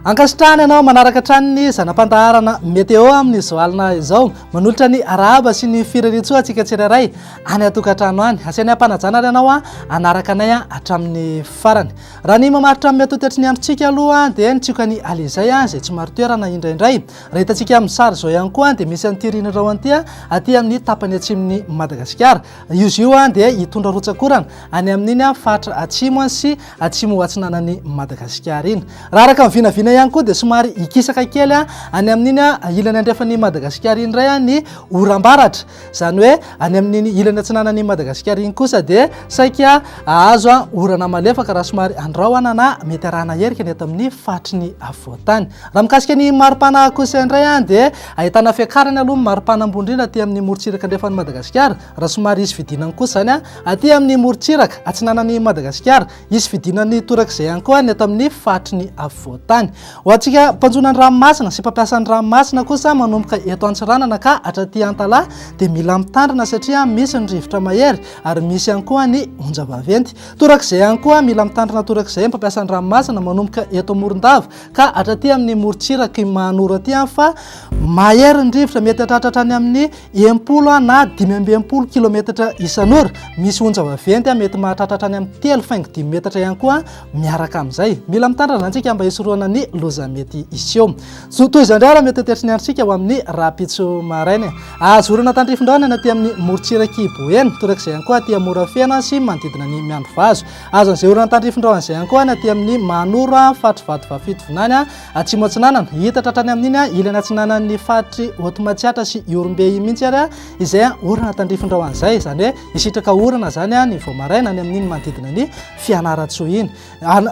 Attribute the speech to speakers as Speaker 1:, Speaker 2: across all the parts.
Speaker 1: ankasitrahany ianao manaraka hatrany ny zana-pandaharana meteo amin'ny zoalina izao manolotra ny arahaba sy ny firerintsoa antsika tsirairay any atokantrano any asiany ampanajana ry ianao a anaraka anay a hatramin'ny farany raha ny mamaritra amin'ny atotetry ny androntsika aloha dia nitsioka ny alizay a izay tsy marotoerana indraindray Raha hitantsika amin'ny sary izao ihany koa dia misy an'ity Rina Raon ity aty amin'ny tapany atsimon'i Madagasikara. Izy io dia hitondra rotsak'orana any amin'iny faritra atsimo sy atsimo ho atsinanan'i Madagasikara iny. Raha araka ny vinavina ihany koa dia somary hikisaka kely any amin'iny ilany andrefan'i Madagasikara iny indray ny oram-baratra. Izany hoe any amin'iny ilany atsinanan'i Madagasikara iny kosa dia saika ahazo an orana malefaka raha somary andrahona na mety arahana herika ny eto amin'ny faritry ny afovoan-tany. Raha mikasika ny maripana kosa indray an dia ahitana fiakarany aloha ny maripana ambony indrindra aty amin'ny morontsiraka andrefan'i Madagasikara raha somary hisy fidinany kosa izany an aty amin'ny morontsiraka atsinanan'i Madagasikara. Hisy fidinan'ny torak'izay ihany koa ny ato amin'ny faritry ny afovoan-tany. Ho antsika mpanjono ny ranomasina sy mpampiasa ny ranomasina kosa manomboka eto Antsiranana ka hatraty Antalaha dia mila mitandrina satria misy ny rivotra mahery ary misy ihany koa ny onjam-baventy. Torak'izay ihany koa mila mitandrina torak'izay mpampiasa ny ranomasina manomboka eto Morondava Ka hatraty amin'ny morontsirak' i Mahanoro aty aho fa mahery ny rivotra, mety hatratra hatrany amin'ny enimpolo na dimy amby enimpolo kilaometatra isan'ora. Misy onja vaventy mety mahatratra hatrany amin'ny telo faingo dimy metatra ihany koa miaraka amin'izay. Mila mitandrina antsika mba hisorohana ny loza mety hiseho. Zo toy izao indray ary mety hoteritry ny androntsika ho amin'ny rahampitso maraina. Azo orana tandrifin-drahona ny aty amin'ny morontsirak'i Boeny, torak'izay ihany koa aty Morafeno sy manodidina ny Miandrivazo. Azon'izay orana tandrifindrao an'izay ankohany aty amin'ny Manoro, faritry Vatovafito vinany, atsimo atsinanana. Hita tratrany amin'iny ilany atsinanan'ny faritry Hotomatsiatra sy Ihorombe iny mihitsy ary izay orana tandrifindrao an'izay. Izany hoe hisitraka orana izany ny vao maraina any amin'iny manodidina ny Fianarantsoa iny.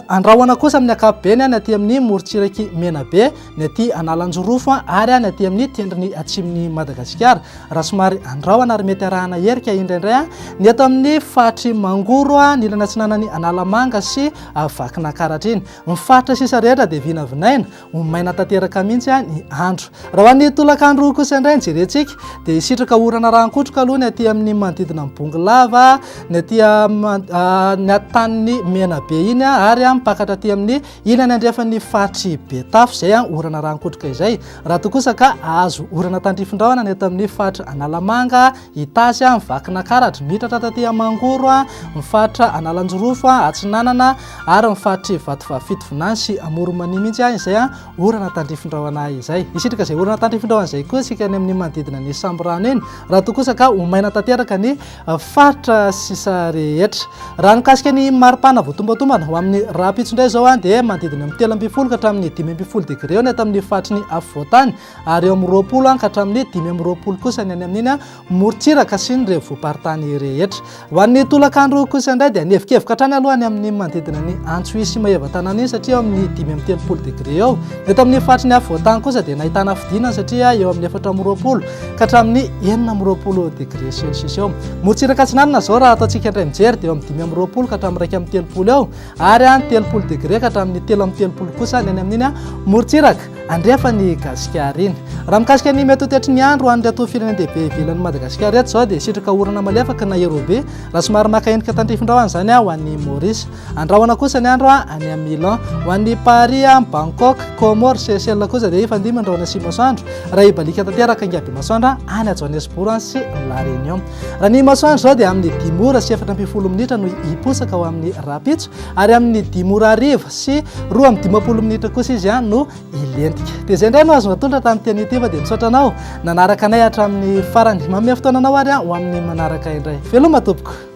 Speaker 1: Andrahona kosa amin'ny ankapobeny any aty amin'ny morontsiraky Menabe. ny aty Analanjirofo ary ny aty amin'ny tendrony atsimon'i Madagasikara. Raha somary andrahona ary mety arahana herika indraindray ny eto amin'ny faritry Mangoro, ny ilany atsinanan'i Analamanga sy Vakinankaratra iny. Ny faritra sisa rehetra dia vinavinaina, ho maina tanteraka mihitsy ny andro. Raha ho an'ny tolakandro kosa indray ny jerentsika dia hisitraka orana rahan-kotroka aloha ny aty amin'ny manodidina ny Bongolava, ny aty amin'ny tanin'ny Menabe iny ary mipakatra aty amin'ny Ilany andrefan'ny faritr'i Betafo izay orana raha-nikotroka izay. Raha toa kosa ka azo orana tandrifin-drahona ny eto amin'ny faritra Analamanga, Itasy, ny Vakinankaratra, mitratra taty Mangoro, ny faritra Analanjirofo Atsinanana ary ny faritr'i Vatovavy-Fito Vinany sy Amoron'i-Mania mihitsy izay orana tandrifin-drahona izay. Hisitraka izay orana tandrifin-drahona izay koa isika any amin'ny manodidina ny Sambirano iny raha toa kosa ka ho maina tanteraka ny faritra sisa rehetra. Raha nikasika ny maripana voatombantombana ho amin'ny rahampitso indray izao dia manodidina amin'ny telo ambin'ny folo ka hatramin'ny dimy ambin'ny folo degre eo ny ato amin'ny faritry ny afovoantany ary eo amin'ny roapolo ka hatramin'ny dimy amby roapolo kosa ny any amin'iny morontsiraka sy ny renivohi-paritany rehetra. Ho an'ny tolakandro kosa indray dia nihevikevoka hatrany aloha ny amin'ny manodidina ny Antsohihy sy Maevatanàna iny satria eo amin'ny dimy amby telopolo degre eo. Eto amin'ny faritry ny afovoantany kosa dia nahitana fidinana satria eo amin'ny efatra amby roapolo ka hatramin'ny enina amby roapolo degré celsius eo. Morontsiraka atsinanana izao raha ataontsika indray mijery dia eo amin'ny dimy amby roapolo ka hatramin'ny iraika amby telopolo eo ary any telopolo degré ka hatramin'ny telo amby telopolo kosa ny any amin'iny morontsiraka andrefan'ny Gasikara iny. Raha mikasika ny mety hotetry ny andro any reto firenendehibe ivelan'ny Madagasikara eto izao dia sitraka orana malefaka na erobe raha somary maka endrika tandrifindrao any izany ho an'ny Maurice. Andrahona kosa ny andro any amin'ny Milan. Ho an'ny Paris, Bangkok, Comores, Seychelles kosa dia efa dimy ny rahona sy masoandro raha hibaliaka tanteraka ny gaby masoandro any Johannesburg sy La Réunion. Raha ny masoandro izao dia amin'ny dimy ora sy efatra ambin'ny folo minitra no hiposaka ho amin'ny rahampitso ary amin'ny dimy ora hariva sy roa amin'ny dimampolo minitra kosa izy no hilentika. Dia izay indray no azonao atolotra tamin'ny teny ity fa dia misaotra anao nanaraka anay hatramin'ny farany. Manome fotoana anao ary ho amin'ny manaraka indray. Veloma tompoko!